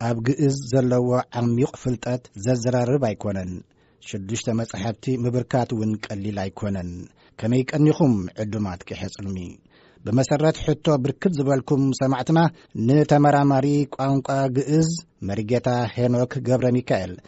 ኣብ ግእዝ ዘለዎ ዓሚዩቕ ፍልጠት ዘዘራርብ ኣይኮነን። ሽዱሽተ መጻሕፍቲ ምብርካት እውን ቀሊል ኣይኮነን። ከመይ ቀኒኹም ዕዱማት ቂሐ-ጽልሚ! ብመሰረት ሕቶ ብርክት ዝበልኩም ሰማዕትና፣ ንተመራማሪ ቋንቋ ግእዝ መሪጌታ ሄኖክ ገብረሚካኤል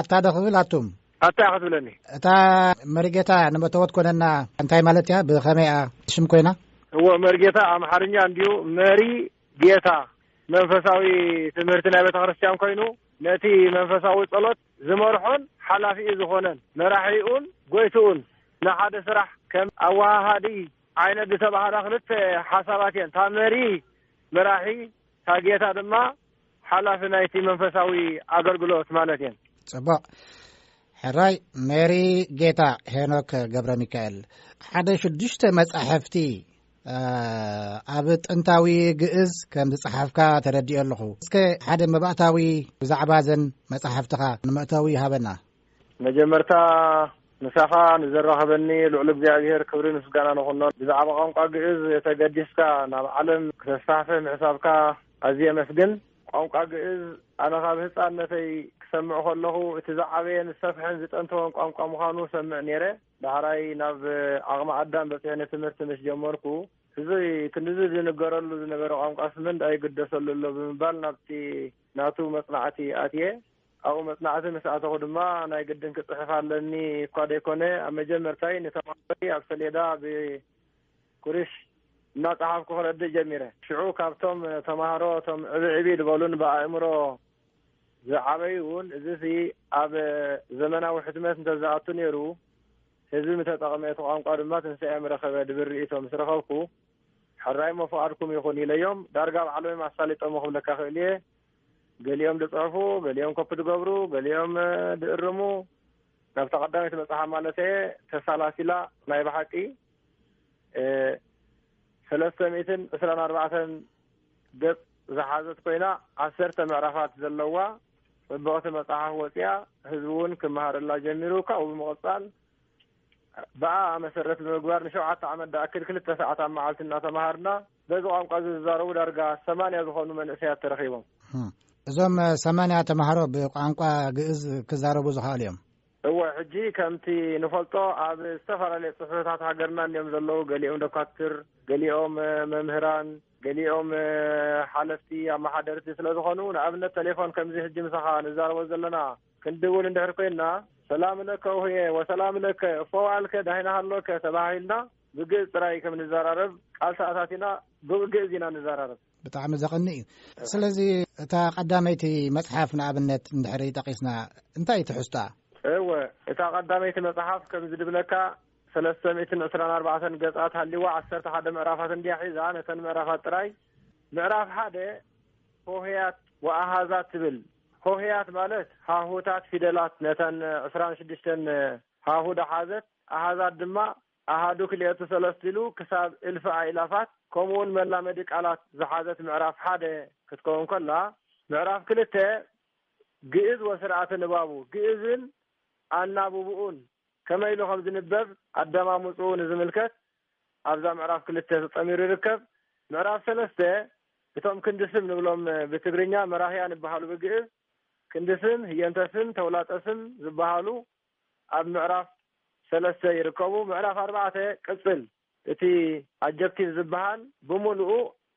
ኣታ ዶ ክብል ኣቱም ኣታ ኢካ ትብለኒ። እታ መሪጌታ ንመተወት ኮነና እንታይ ማለት እያ ብከመይ እያ ሽም ኮይና? እወ መርጌታ ኣምሓርኛ እንድዩ መሪ ጌታ መንፈሳዊ ትምህርቲ ናይ ቤተክርስትያን ኮይኑ ነቲ መንፈሳዊ ጸሎት ዝመርሖን ሓላፊኡ ዝኾነን መራሒኡን ጎይትኡን ንሓደ ስራሕ ከም ኣወሃሃዲ ዓይነት ዝተባህላ ክልተ ሓሳባት እየን እታ መሪ መራሒ እታ ጌታ ድማ ሓላፊ ናይቲ መንፈሳዊ ኣገልግሎት ማለት እየን ፅቡቅ ሕራይ ሜሪ ጌታ ሄኖክ ገብረ ሚካኤል ሓደ ሽዱሽተ መጻሕፍቲ ኣብ ጥንታዊ ግእዝ ከም ዝጸሓፍካ ተረድኦ ኣለኹ እስከ ሓደ መባእታዊ ብዛዕባ ዘን መጻሕፍትኻ ንመእተዊ ይሃበና መጀመርታ ምሳኻ ንዘራኸበኒ ልዑል እግዚኣብሔር ክብሪ ምስጋና ንኹኖ። ብዛዕባ ቋንቋ ግእዝ ተገዲስካ ናብ ዓለም ክተስፋሕፍሕ ምሕሳብካ ኣዝየ የመስግን። ቋንቋ ግእዝ ኣነ ካብ ህጻንነተይ ክሰምዕ ከለኹ እቲ ዝዓበየን ዝሰፍሐን ዝጠንተወን ቋንቋ ምዃኑ ሰምዕ ነይረ። ዳሕራይ ናብ ዓቕሚ ኣዳም በጺሐ ንትምህርቲ ምስ ጀመርኩ እዚ ክንድዚ ዝንገረሉ ዝነበረ ቋንቋስ ምንዳይ ይግደሰሉ ኣሎ ብምባል ናብቲ ናቱ መጽናዕቲ ኣትየ። ኣብኡ መጽናዕቲ ምስ ኣተኹ ድማ ናይ ግድን ክጽሕፍ ኣለኒ እኳ ደይኮነ ኣብ መጀመርታይ ንተማሃሮይ ኣብ ሰሌዳ ብኩርሽ እናጸሓፍኩ ክረድእ ጀሚረ። ሽዑ ካብቶም ተማሃሮ እቶም ዕብዕብ ዝበሉን ብኣእምሮ ዝዓበዩን እዚሲ ኣብ ዘመናዊ ሕትመት እንተዝኣቱ ነይሩ ህዝቢ ምተጠቕመ እቲ ቋንቋ ድማ ትንሳኤ ምረኸበ ዝብል ርእይቶ ምስ ረኸብኩ ሕራይሞ ፍቓድኩም ይኹን ኢለዮም ዳርጋ ባዕሎምዮም ኣሳሊጦሞ ክብለካ እኽእል'የ። ገሊኦም ድጽሑፉ ገሊኦም ኮፒ ድገብሩ ገሊኦም ድእርሙ ናብታ ቀዳመይቲ መጽሓፍ ማለት እየ ተሳላሲላ ናይ ብሓቂ ሰለስተ ሚእትን ዕስራን ኣርባዕተን ገጽ ዝሓዘት ኮይና ዓሰርተ ምዕራፋት ዘለዋ ጽብቕቲ መጽሓፍ ወፅያ ህዝቢ እውን ክመሃረላ ጀሚሩ ካብኡ ብምቕፃል ብኣ መሰረት ብምግባር ንሸውዓተ ዓመት ዳኣክል ክልተ ሰዓት ኣብ መዓልቲ እናተምሃርና በዚ ቋንቋ እዚ ዝዛረቡ ዳርጋ ሰማንያ ዝኾኑ መንእሰያት ተረኺቦም። እዞም ሰማንያ ተምሃሮ ብቋንቋ ግእዝ ክዛረቡ ዝኸኣሉ እዮም? እወ ሕጂ ከምቲ ንፈልጦ ኣብ ዝተፈላለየ ጽሕፈታት ሃገርና እንዮም ዘለዉ ገሊኦም ደኳትር ገሊኦም መምህራን ገሊኦም ሓለፍቲ ኣመሓደርቲ ስለ ዝኾኑ ንኣብነት ተሌፎን ከምዚ ሕጂ ምሳኻ ንዛረቦ ዘለና ክንድውል እንድሕር ኮይንና ሰላም ለከ ውህየ ወሰላም ለከ እፎ ዋዕልከ ዳሂና ሃሎከ ተባሂልና ብግእዝ ጥራይ ከም ንዘራረብ ቃል ተኣታቲና ብግእዝ ኢና ንዘራረብ። ብጣዕሚ ዘቐንእ እዩ። ስለዚ እታ ቀዳመይቲ መጽሓፍ ንኣብነት እንድሕሪ ጠቒስና እንታይ እዩ ትሕዝቶኣ? እወ እታ ቀዳመይቲ መጽሓፍ ከም ዝድብለካ ሰለስተ ሚእትን ዕስራን ኣርባዕተን ገጻት ሃሊዋ ዓሰርተ ሓደ ምዕራፋት እንድያ ሒዛ ነተን ምዕራፋት ጥራይ ምዕራፍ ሓደ ሆህያት ወኣሃዛት ትብል ሆህያት ማለት ሃሁታት ፊደላት ነተን ዕስራን ሽዱሽተን ሃሁ ዳሓዘት ኣሃዛት ድማ ኣሃዱ ክልኤቱ ሰለስቱ ኢሉ ክሳብ እልፊ ኣእላፋት ከምኡውን መላመዲ ቃላት ዝሓዘት ምዕራፍ ሓደ ክትከውን ከላ፣ ምዕራፍ ክልተ ግእዝ ወስርዓተ ንባቡ፣ ግእዝን ኣናብብኡን ከመይ ኢሉ ከም ዝንበብ ኣደማምጽኡ ንዝምልከት ኣብዛ ምዕራፍ ክልተ ተጠሚሩ ይርከብ። ምዕራፍ ሰለስተ እቶም ክንዲ ስም ንብሎም ብትግርኛ መራህያን ይበሃሉ ብግእዝ ክንዲ ስም፣ ህየንተ ስም፣ ተውላጠ ስም ዝበሃሉ ኣብ ምዕራፍ ሰለስተ ይርከቡ። ምዕራፍ ኣርባዕተ ቅጽል እቲ ኣጀክቲቭ ዝበሃል ብምሉኡ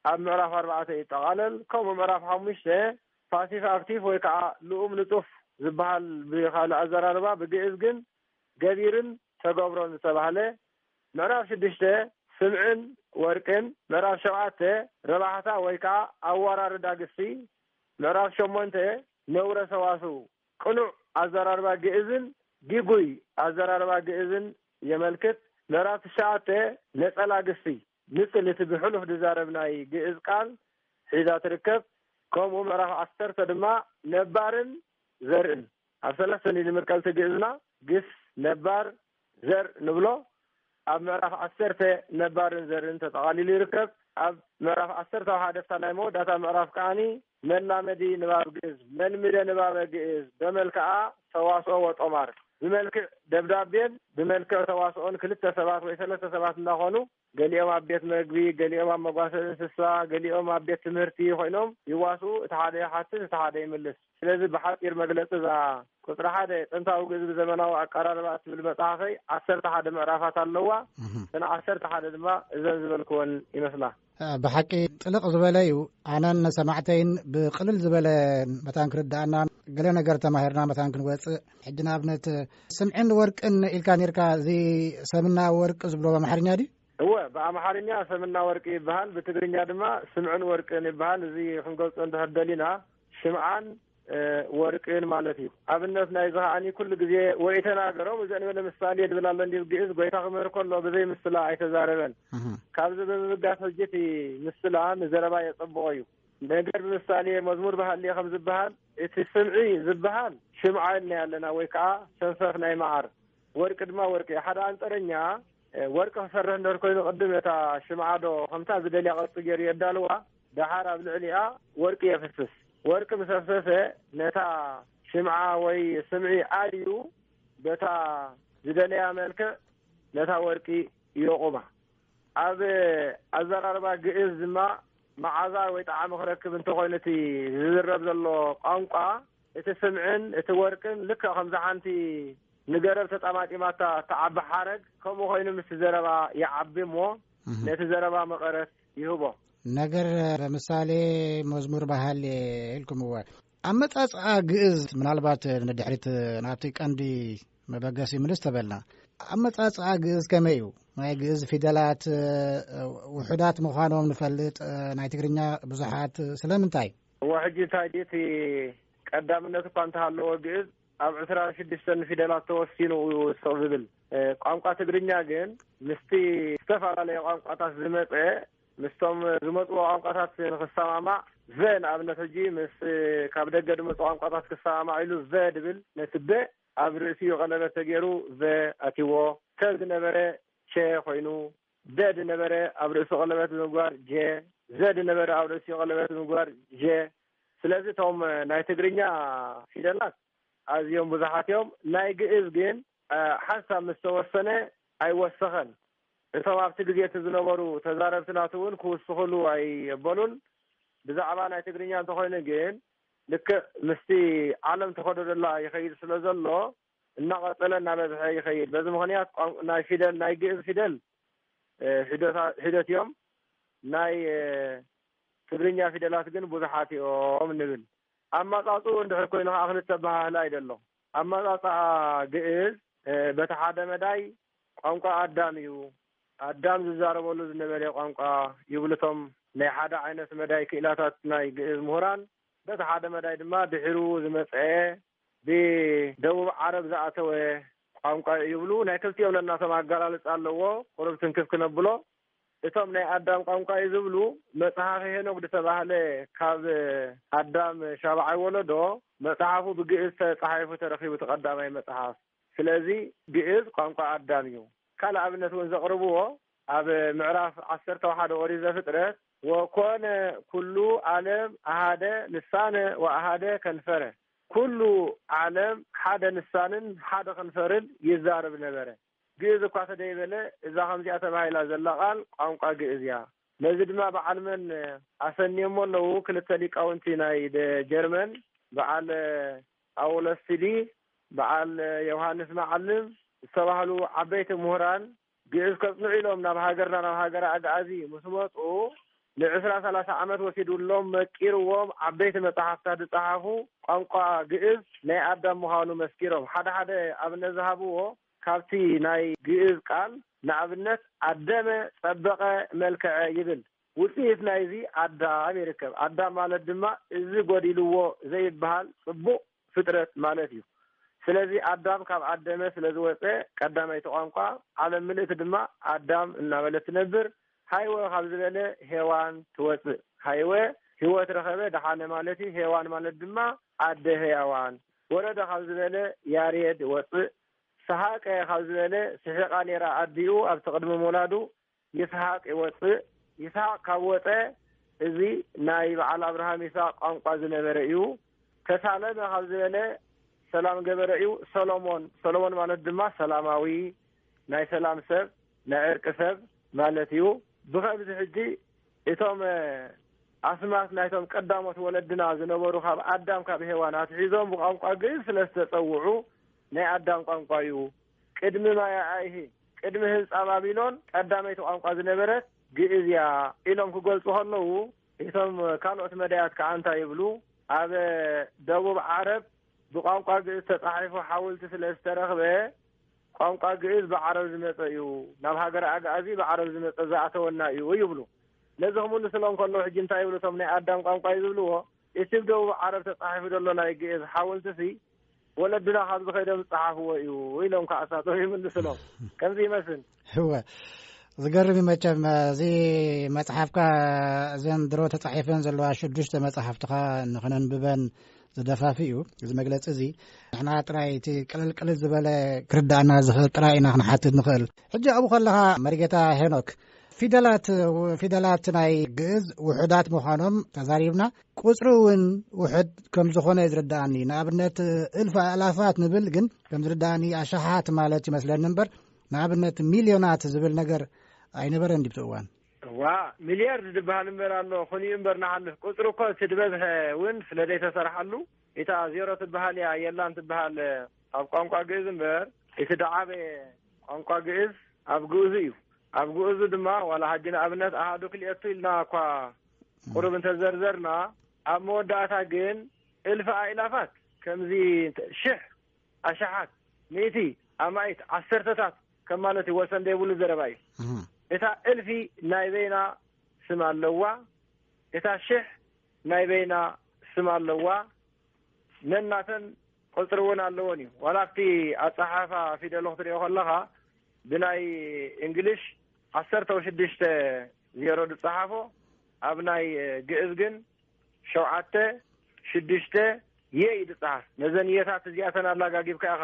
ኣብ ምዕራፍ ኣርባዕተ ይጠቓለል። ከምኡ ምዕራፍ ሓሙሽተ ፓሲቭ ኣክቲቭ ወይ ከኣ ልኡም ንጡፍ ዝበሃል ብኻልእ ኣዘራርባ ብግእዝ ግን ገቢርን ተገብሮን ዝተባህለ ምዕራፍ ሽዱሽተ ስምዕን ወርቅን ምዕራፍ ሸውዓተ ረባሕታ ወይ ከኣ ኣወራርዳ ግሲ ምዕራፍ ሸሞንተ ነውረ ሰዋስው ቅኑዕ ኣዘራርባ ግእዝን ጊጉይ ኣዘራርባ ግእዝን የመልክት። ምዕራፍ ትሽዓተ፣ ነጸላ ግሲ፣ ንጽል እቲ ብሕሉፍ ዝዛረብ ናይ ግእዝ ቃል ሒዛ ትርከብ። ከምኡ ምዕራፍ ዓሰርተ ድማ ነባርን ዘርእን ኣብ ሰለስተ ንድምር ቀልቲ ግእዝና፣ ግስ፣ ነባር፣ ዘር ንብሎ ኣብ ምዕራፍ ዓሰርተ ነባርን ዘርን ተጠቓሊሉ ይርከብ። ኣብ ምዕራፍ ዓሰርተ ኣብ ሓደ ኣብታ ናይ መወዳእታ ምዕራፍ ከኣ መላመዲ ንባብ ግእዝ፣ መልምደ ንባበ ግእዝ በመልክዓ ተዋስኦ ወጦማር፣ ብመልክዕ ደብዳቤን ብመልክዕ ተዋስኦን ክልተ ሰባት ወይ ሰለስተ ሰባት እንዳኾኑ፣ ገሊኦም ኣብ ቤት መግቢ፣ ገሊኦም ኣብ መጓሰ እንስሳ፣ ገሊኦም ኣብ ቤት ትምህርቲ ኮይኖም ይዋስኡ፣ እቲ ሓደ ይሓትት እቲ ሓደ ይምልስ። ስለዚ ብሓጺር መግለጺ እዛ ቁጽሪ ሓደ፣ ጥንታዊ ግእዝ ብዘመናዊ ኣቀራርባ እትብል መጽሓፈይ ዓሰርተ ሓደ ምዕራፋት ኣለዋ። እተን ዓሰርተ ሓደ ድማ እዘን ዝበልክወን ይመስላ። ብሓቂ ጥልቕ ዝበለ እዩ። ኣነን ሰማዕተይን ብቅልል ዝበለ መታን ክርድኣና ገለ ነገር ተማሂርና መታን ክንወጽእ ሕጂ ንኣብነት ስምዕን ወርቅን ኢልካ ነርካ እዚ ሰምና ወርቂ ዝብሎ ኣምሓርኛ ድዩ እወ ብኣምሓርኛ ሰምና ወርቂ ይበሃል ብትግርኛ ድማ ስምዕን ወርቅን ይበሃል እዚ ክንገልፆ እንተህደሊና ሽምዓን ወርቅን ማለት እዩ ኣብነት ናይ ዚ ከዓኒ ኩሉ ግዜ ወይ ተናገሮም እዚ ንበለ ምሳሌ ድብል ኣሎ እንዲ ግእዝ ጎይታ ክምህር ከሎ ብዘይ ምስላ ኣይተዛረበን ካብዚ ብምብጋስ ሕጂ እቲ ምስላ ንዘረባ የፀብቆ እዩ ነገር ብምሳሌ መዝሙር ባህሊ ከም ዝበሃል እቲ ስምዒ ዝበሃል ሽምዓ ኢልና ኣለና ወይ ከኣ ሰንፈፍ ናይ መዓር ወርቂ ድማ ወርቂ እዩ ሓደ ኣንጠረኛ ወርቂ ክሰርሕ እንድህር ኮይኑ ቅድም ነታ ሽምዓ ዶ ከምታ ዝደልያ ቅርጺ ገይሩ የዳልዋ ደሓር ኣብ ልዕሊኣ ወርቂ የፍስስ ወርቂ ምስ ኣፍሰሰ ነታ ሽምዓ ወይ ስምዒ ኣልዩ በታ ዝደለያ መልክዕ ነታ ወርቂ ዮቑማ ኣብ ኣዘራርባ ግእዝ ድማ መዓዛ ወይ ጣዕሚ ክረክብ እንተኾይኑ እቲ ዝዝረብ ዘሎ ቋንቋ እቲ ስምዕን እቲ ወርቅን ልክዕ ከምዛ ሓንቲ ንገረብ ተጣማጢማታ እትዓቢ ሓረግ ከምኡ ኮይኑ ምስቲ ዘረባ ይዓቢ እሞ ነቲ ዘረባ መቐረት ይህቦ ነገር ለምሳሌ መዝሙር ባህል ኢልኩምዎ ኣመጻጽኣ ግእዝ ምናልባት ንድሕሪት ናብቲ ቀንዲ መበገሲ ምልስ ተበልና ኣመጻጽኣ ግእዝ ከመይ እዩ ናይ ግእዝ ፊደላት ውሑዳት ምዃኖም ንፈልጥ ናይ ትግርኛ ብዙሓት ስለምንታይ እዎ ሕጂ እንታይ ድ እቲ ቀዳምነት እኳ እንተሃለዎ ግእዝ ኣብ ዕስራ ሽዱሽተ ፊደላት ተወሲኑ ዩ ስቕ ዝብል ቋንቋ ትግርኛ ግን ምስቲ ዝተፈላለየ ቋንቋታት ዝመፀ ምስቶም ዝመጽዎ ቋንቋታት ንኽሰማማዕ ቨ ንኣብነት ሕጂ ምስ ካብ ደገ ድመጹ ቋንቋታት ክሰማማዕ ኢሉ ቨ ድብል ነቲ በ ኣብ ርእሲኡ ቀለበት ተጌሩ ቨ ኣትይዎ ተ ድነበረ ቸ ኮይኑ ደ ድነበረ ኣብ ርእሱ ቀለበት ብምግባር ጀ ዘ ድነበረ ኣብ ርእሲኡ ቀለበት ብምግባር ዠ ስለዚ እቶም ናይ ትግርኛ ፊደላት ኣዝዮም ብዙሓት እዮም ናይ ግእዝ ግን ሓንሳብ ምስ ተወሰነ ኣይወሰኸን እቶም ኣብቲ ግዜ እቲ ዝነበሩ ተዛረብቲ ናቱ እውን ክውስኹሉ ኣይበሉን። ብዛዕባ ናይ ትግርኛ እንተኾይኑ ግን ልክዕ ምስቲ ዓለም ተኸዶዶላ ይኸይድ ስለ ዘሎ እናቐጸለ እናበዝሐ ይኸይድ። በዚ ምኽንያት ቋንቋ ናይ ፊደል ናይ ግእዝ ፊደል ሒዶታ ሒዶት እዮም ናይ ትግርኛ ፊደላት ግን ብዙሓት እዮም ንብል። ኣማጻጽኡ እንድሕር ኮይኑ ከኣ ክልተ ኣበሃህላ እዩ ደሎ። ኣመጻጽኣ ግእዝ በቲ ሓደ መዳይ ቋንቋ ኣዳም እዩ፣ ኣዳም ዝዛረበሉ ዝነበረ ቋንቋ ይብሉ እቶም ናይ ሓደ ዓይነት መዳይ ክኢላታት ናይ ግእዝ ምሁራን፣ በቲ ሓደ መዳይ ድማ ድሒሩ ዝመጽኣ ብደቡብ ዓረብ ዝኣተወ ቋንቋ እዩ ይብሉ፣ ናይ ክልቲኦም ነናቶም ኣገላልጻ ኣለዎ፣ ቁሩብ ትንክፍ ክነብሎ። እቶም ናይ ኣዳም ቋንቋ እዩ ዝብሉ መጽሐፈ ሄኖክ ድተባህለ ካብ ኣዳም ሻብዓይ ወለዶ መጽሐፉ ብግእዝ ተጻሒፉ ተረኪቡ እቲ ቀዳማይ መጽሐፍ ስለዚ ግእዝ ቋንቋ ኣዳም እዩ ካልእ ኣብነት እውን ዘቅርብዎ ኣብ ምዕራፍ ዓሰርተ ወሓደ ኦሪት ዘፍጥረት ወኮነ ኩሉ ኣለም ኣሃደ ልሳነ ወኣሃደ ከንፈረ ኩሉ ዓለም ሓደ ልሳንን ሓደ ከንፈርን ይዛረብ ነበረ። ግእዝ እኳ ተደይበለ እዛ ከምዚኣ ተባሂላ ዘላ ቃል ቋንቋ ግእዝ እያ። ነዚ ድማ በዓል መን ኣሰንዮሞ ኣለዉ ክልተ ሊቃውንቲ ናይ ደ ጀርመን በዓል ኣውለስቲሊ በዓል የውሃንስ መዓልም ዝተባህሉ ዓበይቲ ምሁራን ግእዝ ከጽንዑ ኢሎም ናብ ሃገርና ናብ ሃገረ ኣግኣዚ ምስ መጹ ንዕስራ ሰላሳ ዓመት ወሲዱሎም መቂርዎም ዓበይቲ መጻሕፍታ ዝጸሓፉ ቋንቋ ግእዝ ናይ ኣዳም ምዃኑ መስኪሮም ሓደ ሓደ ኣብነት ዝሃብዎ ካብቲ ናይ ግእዝ ቃል ንኣብነት ኣደመ ጸበቐ መልከዐ ይብል ውጽኢት ናይዚ ኣዳም ይርከብ ኣዳም ማለት ድማ እዚ ጎዲልዎ ዘይብሃል ጽቡቕ ፍጥረት ማለት እዩ። ስለዚ ኣዳም ካብ ኣደመ ስለ ዝወጸ ቀዳማይቲ ቋንቋ ዓለም ምልእቲ ድማ ኣዳም እናበለት ትነብር። ሀይወ ካብ ዝበለ ሄዋን ትወጽእ። ሀይወ ህይወት ረኸበ፣ ደሓነ ማለት እዩ። ሄዋን ማለት ድማ ኣደ ህያዋን። ወረደ ካብ ዝበለ ያሬድ ወጽእ። ሰሓቀ ካብ ዝበለ ስሒቓ ነይራ ኣዲኡ ኣብቲ ቅድሚ ምውላዱ ይስሃቅ ይወጽእ ይስሃቅ ካብ ወጸ እዚ ናይ በዓል ኣብርሃም ይስሃቅ ቋንቋ ዝነበረ እዩ። ተሳለመ ካብ ዝበለ ሰላም ገበረ እዩ። ሰሎሞን ሰሎሞን ማለት ድማ ሰላማዊ፣ ናይ ሰላም ሰብ፣ ናይ ዕርቂ ሰብ ማለት እዩ። ብኸምዚ ሕጂ እቶም ኣስማት ናይቶም ቀዳሞት ወለድና ዝነበሩ ካብ ኣዳም ካብ ሄዋን ኣትሒዞም ብቋንቋ ግእዝ ስለ ዝተጸውዑ ናይ ኣዳም ቋንቋ እዩ። ቅድሚ ማያኣይሂ ቅድሚ ህንጻ ባቢሎን ቀዳመይቲ ቋንቋ ዝነበረት ግእዝ እያ ኢሎም ክገልጹ ከለዉ እቶም ካልኦት መዳያት ከኣ እንታይ ይብሉ ኣብ ደቡብ ዓረብ ብቋንቋ ግእዝ ተጻሒፉ ሓውልቲ ስለ ዝተረኽበ ቋንቋ ግእዝ ብዓረብ ዝመጸ እዩ ናብ ሃገረ ኣግኣዚ ብዓረብ ዝመጸ ዝኣተወና እዩ ይብሉ ነዚ ክምልስሎም ከሎ ሕጂ እንታይ ይብሉ እቶም ናይ ኣዳም ቋንቋ እዩ ዝብልዎ እቲ ብ ደቡብ ዓረብ ተጻሒፉ ዘሎ ናይ ግእዝ ሓውልቲ ሲ ወለድና ካብዚ ከይዶም ዝፀሓፍዎ እዩ ኢሎም ከዓ እሳቶም ይምልስሎም ከምዚ ይመስል እወ ዝገርም እዩ መቸም እዚ መፅሓፍካ እዘን ድሮ ተፃሒፈን ዘለዋ ሽዱሽተ መፅሓፍትኻ ንክነንብበን ዝደፋፊ እዩ እዚ መግለፂ እዚ ንሕና ጥራይ እቲ ቅልልቅልል ዝበለ ክርዳእና ዝኽእል ጥራይ ኢና ክንሓትት ንኽእል ሕጂ ኣብኡ ከለኻ መሪጌታ ሄኖክ ፊደላት ፊደላት ናይ ግእዝ ውሑዳት ምዃኖም ተዛሪብና ቁፅሪ እውን ውሕድ ከም ዝኾነ እዩ ዝርድኣኒ ንኣብነት እልፊ ኣእላፋት ንብል ግን ከም ዝርድኣኒ ኣሽሓት ማለት ይመስለኒ እምበር ንኣብነት ሚልዮናት ዝብል ነገር ኣይነበረን ድብቲ እዋን እዋ ሚልያርድ ዝበሃል እምበር ኣሎ ኹን እዩ እምበር ንሓልፍ ቁፅሪ እኮ እቲ ድበዝሐ እውን ስለ ዘይተሰርሓሉ ኢታ ዜሮ ትበሃል እያ የላን ትበሃል ኣብ ቋንቋ ግእዝ እምበር እቲ ደዓበየ ቋንቋ ግእዝ ኣብ ግእዙ እዩ ኣብ ግእዙ ድማ ዋላ ሃጂ ንኣብነት ኣሃዱ ክልኤቱ ኢልና እኳ ቁሩብ እንተዘርዘርና ኣብ መወዳእታ ግን እልፊ ኣእላፋት ከምዚ ሽሕ ኣሽሓት ሚእቲ ኣማኢት ዓሰርተታት ከም ማለት እዩ ወሰን ዘይብሉ ዘረባ እዩ እታ እልፊ ናይ በይና ስም ኣለዋ እታ ሽሕ ናይ በይና ስም ኣለዋ ነናተን ቁፅሪ እውን ኣለዎን እዩ ዋላ ኣብቲ ኣፀሓፋ ፊደሎ ክትሪኦ ከለካ ብናይ እንግሊሽ ዓሰርተው ሽዱሽተ ዜሮ ዝጸሓፎ ኣብ ናይ ግእዝ ግን ሸውዓተ ሽዱሽተ የ እዩ ዝጸሓፍ ነዘን የታት እዚኣተን ኣላጋጊብካ ኢኻ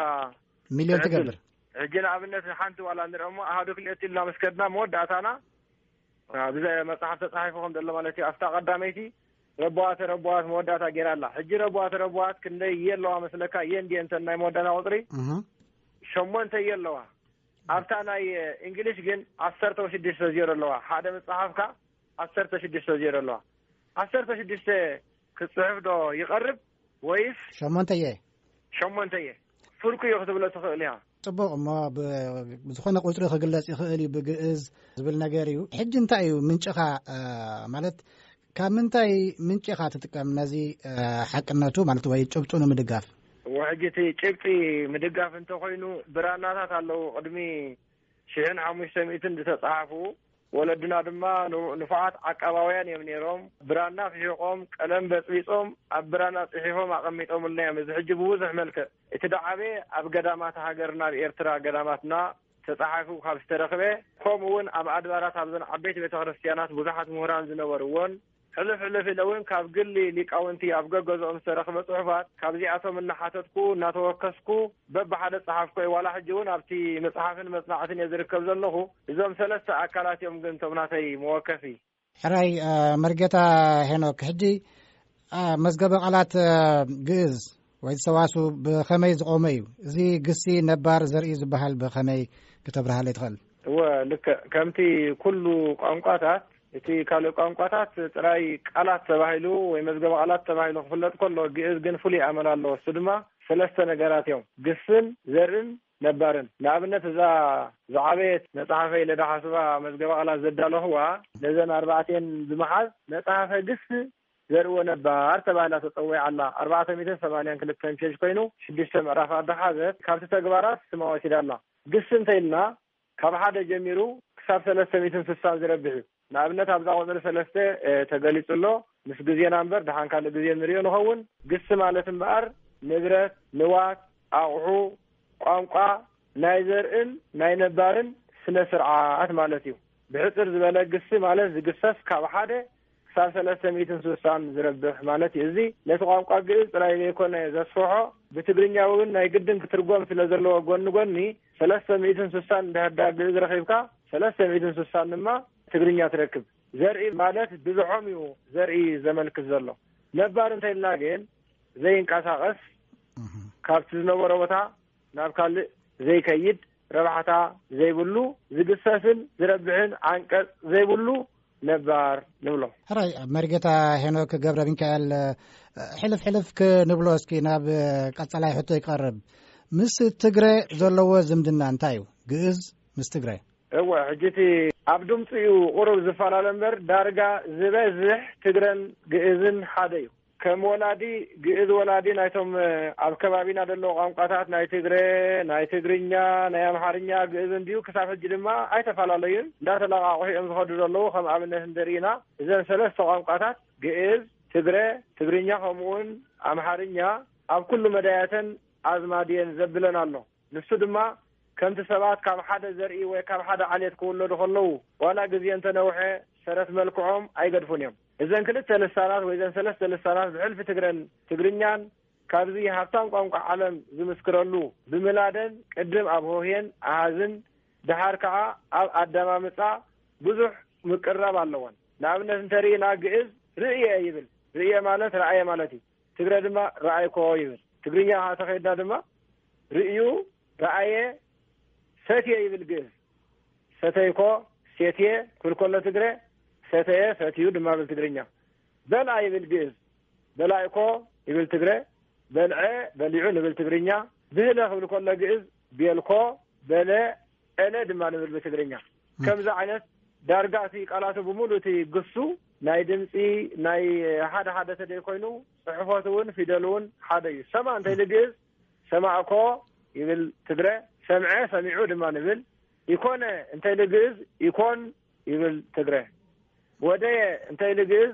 ሚልዮን ትገብር ሕጂ ንኣብነት ሓንቲ ዋላ ንርኦ እሞ ኣሃዱ ክልኤቲ ኢልና ምስ ከድና መወዳእታና ብዘ መጽሓፍ ተጻሒፉ ከም ዘሎ ማለት እዩ ኣብታ ቀዳመይቲ ረቦዋተ ረቦዋት መወዳእታ ገይራ ኣላ ሕጂ ረቦዋተ ረቦዋት ክንደይ እየ ኣለዋ መስለካ እየ እንዲየ እንተ ናይ መወዳእታ ቁፅሪ ሸሞንተ እየ ኣለዋ ኣብታ ናይ እንግሊሽ ግን ዓሰርተ ወሽዱሽተ ዜሮ ኣለዋ ሓደ ምጽሓፍካ ዓሰርተ ሽዱሽተ ዜሮ ኣለዋ ዓሰርተ ሽዱሽተ ክጽሕፍ ዶ ይቐርብ ወይስ ሸሞንተ እየ ሸሞንተ እየ ፍርቁ እዮ ክትብሎ ትኽእል እያ ጽቡቕ እሞ ብዝኾነ ቁፅሪ ክግለጽ ይኽእል እዩ ብግእዝ ዝብል ነገር እዩ ሕጂ እንታይ እዩ ምንጭኻ ማለት ካብ ምንታይ ምንጪ ኢኻ ትጥቀም ነዚ ሓቅነቱ ማለት ወይ ጭብጡ ንምድጋፍ? ሕጂ እቲ ጭብጢ ምድጋፍ እንተኾይኑ ብራናታት ኣለዉ ቅድሚ ሽሕን ሓሙሽተ ሚእትን ዝተጻሓፉ ወለድና ድማ ንፉዓት ዓቃባውያን እዮም ኔሮም ብራና ፊሒቖም ቀለም በጽቢጾም ኣብ ብራና ጽሒፎም ኣቐሚጦምልና እዮም እዚ ሕጂ ብብዙሕ መልክዕ እቲ ድዓበየ ኣብ ገዳማት ሃገርና ኣብ ኤርትራ ገዳማትና ተጻሒፉ ካብ ዝተረኽበ ከምኡ ውን ኣብ ኣድባራት ኣብዘን ዓበይቲ ቤተ ክርስትያናት ብዙሓት ምሁራን ዝነበርዎን ሕሉፍ ሕሉፍ ኢለ ውን ካብ ግሊ ሊቃውንቲ ኣብ ገገዝኦም ዝተረኽበ ጽሑፋት ካብዚኣቶም እናሓተትኩ እናተወከስኩ በብሓደ ጸሓፍኩ እየ ዋላ ሕጂ ውን ኣብቲ ምጽሓፍን መጽናዕትን እየ ዝርከብ ዘለኹ እዞም ሰለስተ ኣካላት እዮም ግን እቶም ናተይ መወከሲ ሕራይ መርጌታ ሄኖክ ሕጂ መዝገበ ቓላት ግእዝ ወይ ዝሰዋሱ ብኸመይ ዝቖመ እዩ እዚ ግሲ ነባር ዘርኢ ዝበሃል ብኸመይ ክተብርሃለ ይትኽእል እወ ልክዕ ከምቲ ኩሉ ቋንቋታት እቲ ካልእ ቋንቋታት ጥራይ ቃላት ተባሂሉ ወይ መዝገበ ቓላት ተባሂሉ ክፍለጥ ከሎ ግእዝ ግን ፍሉይ ኣመል ኣለዎ እሱ ድማ ሰለስተ ነገራት እዮም ግስን ዘርእን ነባርን። ንኣብነት እዛ ዝዓበየት መጽሓፈይ ለደሓስባ መዝገበ ቃላት ዘዳለኹዋ ነዘን ኣርባዕቲኤን ብምሓዝ መጽሓፈ ግስ ዘርእዎ ነባር ተባሂላ ተጸዊዓ ኣላ። ኣርባዕተ ሚእትን ሰማንያን ክልተን ፔጅ ኮይኑ ሽዱሽተ ምዕራፍ ኣደሓዘት። ካብቲ ተግባራት ስማ ወሲዳ ኣላ። ግስ እንተኢልና ካብ ሓደ ጀሚሩ ክሳብ ሰለስተ ሚእትን ስሳን ዝረብሕ እዩ። ንኣብነት ኣብዛ ቁጽሪ ሰለስተ ተገሊጹ ኣሎ፣ ምስ ግዜና እምበር ድሓን ካልእ ግዜ ንርእዮ ንኸውን፣ ግሲ ማለት እምበኣር ንብረት፣ ንዋት፣ ኣቕሑ፣ ቋንቋ፣ ናይ ዘርእን ናይ ነባርን ስነ-ስርዓት ማለት እዩ። ብሕጽር ዝበለ ግሲ ማለት ዝግሰስ ካብ ሓደ፣ ክሳብ ሰለስተ ሚእትን ስሳን ዝረብሕ ማለት እዩ። እዚ ነቲ ቋንቋ ግእዝ ጥራይ ዘይኮነ ዘስፍሖ፣ ብትግርኛ እውን ናይ ግድን ክትርጎም ስለ ዘለዎ ጎኒ ጎኒ ሰለስተ ሚእትን ስሳን እንድሕር ድኣ ግእዝ ረኺብካ ሰለስተ ሚእትን ስሳን ድማ ትግርኛ ትረክብ። ዘርኢ ማለት ብዝሖም እዩ ዘርኢ ዘመልክት ዘሎ። ነባር እንተኢልና ግን ዘይንቀሳቐስ፣ ካብቲ ዝነበሮ ቦታ ናብ ካልእ ዘይከይድ፣ ረብሓታ ዘይብሉ ዝግሰስን ዝረብሕን ዓንቀፅ ዘይብሉ ነባር ንብሎ። ሕራይ ኣብ መሪጌታ ሄኖክ ገብረ ሚካኤል ሕልፍ ሕልፍ ክንብሎ እስኪ ናብ ቀፀላይ ሕቶ ይቀርብ ምስ ትግረ ዘለዎ ዝምድና እንታይ እዩ ግእዝ ምስ ትግረ እወ ሕጂ እቲ ኣብ ድምፂ እዩ ቁሩብ ዝፈላለ እምበር ዳርጋ ዝበዝሕ ትግረን ግእዝን ሓደ እዩ ከም ወላዲ ግእዝ ወላዲ ናይቶም ኣብ ከባቢና ደለዉ ቋንቋታት ናይ ትግረ ናይ ትግርኛ ናይ ኣምሓርኛ ግእዝን ድዩ ክሳብ ሕጂ ድማ ኣይተፋላለዩን እንዳተላቓቑሑ እዮም ዝኸዱ ዘለዉ ከም ኣብነት እንተሪኢና እዘን ሰለስተ ቋንቋታት ግእዝ ትግረ ትግርኛ ከምኡውን ኣምሓርኛ ኣብ ኩሉ መዳያተን ኣዝማድ እየን ዘብለን ኣሎ ንሱ ድማ ከምቲ ሰባት ካብ ሓደ ዘርኢ ወይ ካብ ሓደ ዓሌት ክውለዱ ከለዉ ዋላ ግዜ እንተነውሐ ሰረት መልክዖም ኣይገድፉን እዮም እዘን ክልተ ልሳናት ወይ እዘን ሰለስተ ልሳናት ብሕልፊ ትግረን ትግርኛን ካብዚ ሃብታም ቋንቋ ዓለም ዝምስክረሉ ብምላደን ቅድም ኣብ ሆህየን ኣሃዝን ደሓር ከኣ ኣብ ኣደማምጻ ብዙሕ ምቅርራብ ኣለወን። ንኣብነት እንተ ርኢና ግእዝ ርእየ ይብል፣ ርእየ ማለት ረኣየ ማለት እዩ። ትግረ ድማ ረኣይኮ ይብል። ትግርኛ ከኣ ተኸይድና ድማ ርእዩ ረኣየ ሰትየ ይብል ግእዝ። ሰተይኮ፣ ሴትየ፣ ክብል ከሎ ትግረ፣ ሰተየ፣ ሰትዩ፣ ድማ ብል ትግርኛ። በልኣ ይብል ግእዝ። በላእኮ ይብል ትግረ፣ በልዐ፣ በሊዑ፣ ንብል ትግርኛ። ብህለ ክብል ከሎ ግእዝ፣ ቤልኮ፣ በለ፣ ኧለ፣ ድማ ንብል ብትግርኛ። ከምዚ ዓይነት ዳርጋ እቲ ቃላቱ ብምሉእ እቲ ግሱ ናይ ድምፂ ናይ ሓደ ሓደ ተደይ ኮይኑ ፅሕፈቱ እውን ፊደሉ እውን ሓደ እዩ። ሰማ እንተይሊ ግእዝ ሰማዕኮ ይብል ትግረ፣ ሰምዐ፣ ሰሚዑ ድማ ንብል። ኢኮነ እንተ ኢሊ ግእዝ ኢኮን ይብል ትግረ። ወደየ እንተ ኢሊ ግእዝ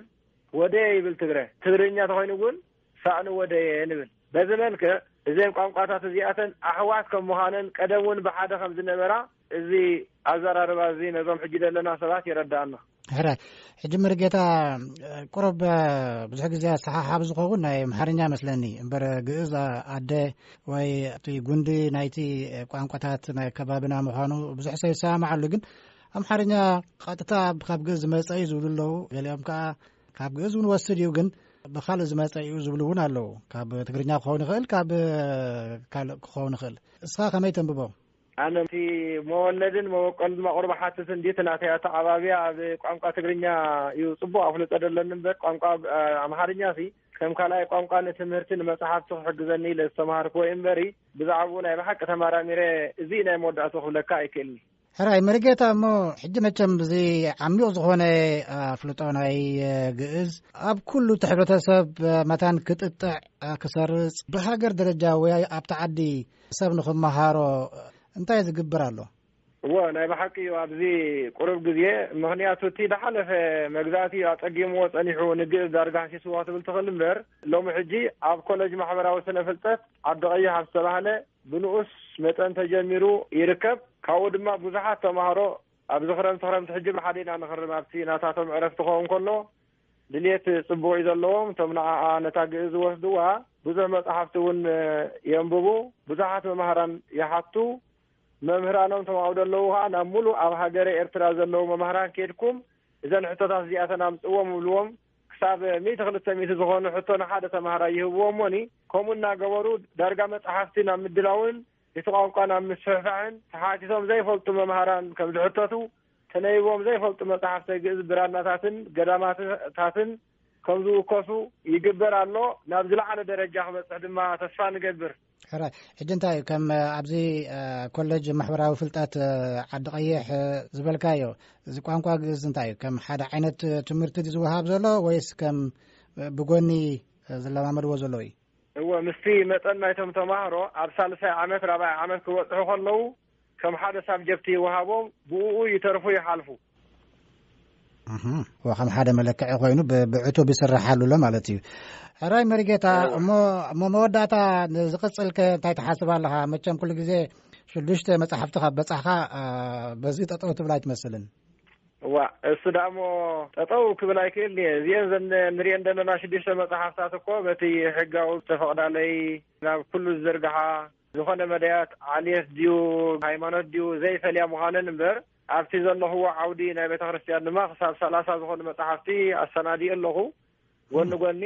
ወደየ ይብል ትግረ። ትግርኛ ተኾይኑ ግን ሳእኒ ወደየ ንብል። በዚ መልክዕ እዘን ቋንቋታት እዚኣተን ኣሕዋት ከም ምዃነን ቀደም እውን ብሓደ ከም ዝነበራ፣ እዚ ኣዘራርባ እዚ ነዞም ሕጂ ዘለና ሰባት የረዳኣና። ሕረ ሕጂ መርጌታ ቁሩብ ብዙሕ ግዜ ኣሰሓሓብ ዝኸውን ናይ ኣምሓርኛ መስለኒ እምበር ግእዝ ኣደ ወይ እቲ ጉንዲ ናይቲ ቋንቋታት ናይ ከባቢና ምዃኑ ብዙሕ ሰ ይሰማማዓሉ ግን ኣምሓርኛ ቀጥታ ካብ ግእዝ ዝመፀ እዩ ዝብሉ ኣለዉ ገሊኦም ከዓ ካብ ግእዝ እውን ወስድ እዩ ግን ብካልእ ዝመፀ እዩ ዝብሉ እውን ኣለዉ ካብ ትግርኛ ክኸውን ይኽእል ካብ ካልእ ክኸውን ይኽእል እስኻ ከመይ ተንብቦ ኣነ እቲ መወለድን መበቆልን መቕሩ ብሓትት እንዲ እቲ ናተይ ኣተዓባብያ ኣብ ቋንቋ ትግርኛ እዩ ጽቡቕ ኣፍልጦ ደለኒ እምበር ቋንቋ ኣምሓርኛ ሲ ከም ካልኣይ ቋንቋ ንትምህርቲ ንመጽሓፍቲ ክሕግዘኒ ኢለ ዝተማሃርክዎ እዩ እምበሪ ብዛዕባኡ ናይ ብሓቂ ተማራሚረ እዚ ናይ መወዳእቱ ክብለካ ኣይክእልኒ ሕራይ መርጌታ እሞ ሕጂ መቸም እዚ ዓሚቕ ዝኾነ ኣፍልጦ ናይ ግእዝ ኣብ ኩሉ እቲ ሕብረተሰብ መታን ክጥጥዕ ክሰርጽ ብሃገር ደረጃ ወይ ኣብቲ ዓዲ ሰብ ንክመሃሮ እንታይ ዝግብር ኣሎ? እወ ናይ ብሓቂ እዩ ኣብዚ ቁሩብ ግዜ ምኽንያቱ እቲ ዝሓለፈ መግዛእቲ እዩ ኣጸጊምዎ ጸኒሑ ንግእዝ ዳርጋ ሃሲስዋ ትብል ትኽእል እምበር ሎሚ ሕጂ ኣብ ኮለጅ ማሕበራዊ ስነ ፍልጠት ዓዲ ቀይሕ ኣብ ዝተባህለ ብንኡስ መጠን ተጀሚሩ ይርከብ ካብኡ ድማ ብዙሓት ተማሃሮ ኣብዚ ክረምቲ ክረምቲ ሕጂ ብሓደ ኢና ንኽርም ኣብቲ ናታቶም ዕረፍቲ ክኸውን ከሎ ድልየት ጽቡቕ እዩ ዘለዎም እቶም ንዓኣ ነታ ግእዝ ዝወስድዋ ብዙሕ መጽሓፍቲ እውን የንብቡ ብዙሓት መማህራን ይሓቱ መምህራኖም እቶም ኣብኡ ዘለዉ ከኣ ናብ ሙሉእ ኣብ ሃገረ ኤርትራ ዘለዉ መማህራን ኬድኩም እዘን ሕቶታት እዚኣተን ኣምጽዎም እብልዎም ክሳብ ሚእቲ ክልተ ሚእቲ ዝኾኑ ሕቶ ንሓደ ተማሃራይ ይህብዎ እሞኒ ከምኡ እናገበሩ ዳርጋ መጽሓፍቲ ናብ ምድላውን እቲ ቋንቋ ናብ ምስፍሕፋሕን ተሓቲቶም ዘይፈልጡ መምሃራን ከም ዝሕተቱ ተነቢቦም ዘይፈልጡ መጻሕፍተ ግእዝ ብራናታትን ገዳማትታትን ከም ዝውከሱ ይግበር ኣሎ። ናብ ዝለዓለ ደረጃ ክበጽሕ ድማ ተስፋ ንገብር። ሕራይ ሕጂ እንታይ እዩ ከም ኣብዚ ኮለጅ ማሕበራዊ ፍልጠት ዓዲ ቀይሕ ዝበልካዮ እዚ ቋንቋ ግእዝ እንታይ እዩ ከም ሓደ ዓይነት ትምህርቲ ዝውሃብ ዘሎ ወይስ ከም ብጎኒ ዝለማመድዎ ዘለዉ እዩ እወ ምስቲ መጠን ናይቶም ተማህሮ ኣብ ሳልሳይ ዓመት ራብዓይ ዓመት ክበጽሑ ከለዉ ከም ሓደ ሳብጀክት ይወሃቦም ብእኡ ይተርፉ ይሓልፉ። ከም ሓደ መለክዒ ኮይኑ ብዕቱብ ይስራሓሉ ኣሎ ማለት እዩ። ሕራይ መሪጌታ እሞ መወዳእታ ዝቕፅልከ እንታይ ትሓስብ ኣለኻ? መቸም ኩሉ ግዜ ሽዱሽተ መፅሓፍቲ ካብ በፃሕኻ በዚ ጠጠው ትብል ኣይትመስልን። እዋ እሱ ዳሞ ጠጠው ክብል ኣይክእል እየ እዚአን ዘ ንሪኤን ዘለና ሽዱሽተ መፅሓፍታት እኮ በቲ ሕጋዊ ዝተፈቕዳለይ ናብ ኩሉ ዝዝርግሓ ዝኾነ መዳያት ዓሌት ድዩ ሃይማኖት ድዩ ዘይፈልያ ምዃነን እምበር ኣብቲ ዘለኹዎ ዓውዲ ናይ ቤተክርስትያን ድማ ክሳብ ሰላሳ ዝኾኑ መጻሕፍቲ ኣሰናዲኡ ኣለኹ ጎኒ ጎኒ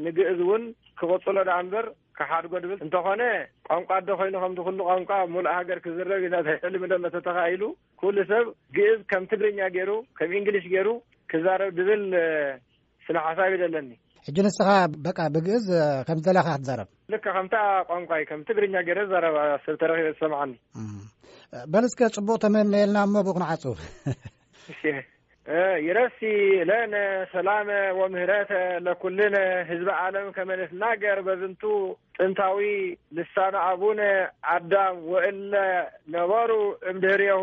ንግእዝ እውን ክቕጽሎ ደኣ እምበር ክሓድጎ ድብል እንተኾነ ቋንቋ ኣደ ኮይኑ ከምቲ ኩሉ ቋንቋ ኣብ ሙሉእ ሃገር ክዝረብ ኢና ሕልሚ ደሎ ተተኻኢሉ ኩሉ ሰብ ግእዝ ከም ትግርኛ ገይሩ ከም እንግሊሽ ገይሩ ክዛረብ ድብል ስነ ሓሳብ እዩ ደለኒ። ሕጂ ንስኻ በቃ ብግእዝ ከም ዝደለኻ ክትዛረብ ልክ ከምታ ቋንቋይ ከም ትግርኛ ገይረ ዛረብ ሰብ ተረኺበ ዝሰምዓኒ በል እስከ ጽቡቕ ተመነየልና እሞ ብኡ ክንዓጹ ይረሲ ለነ ሰላመ ወምህረተ ለኩልነ ህዝቢ ዓለም ከመንትናገር በዝንቱ ጥንታዊ ልሳነ ኣቡነ ኣዳም ወእለ ነበሩ እምድህርየሁ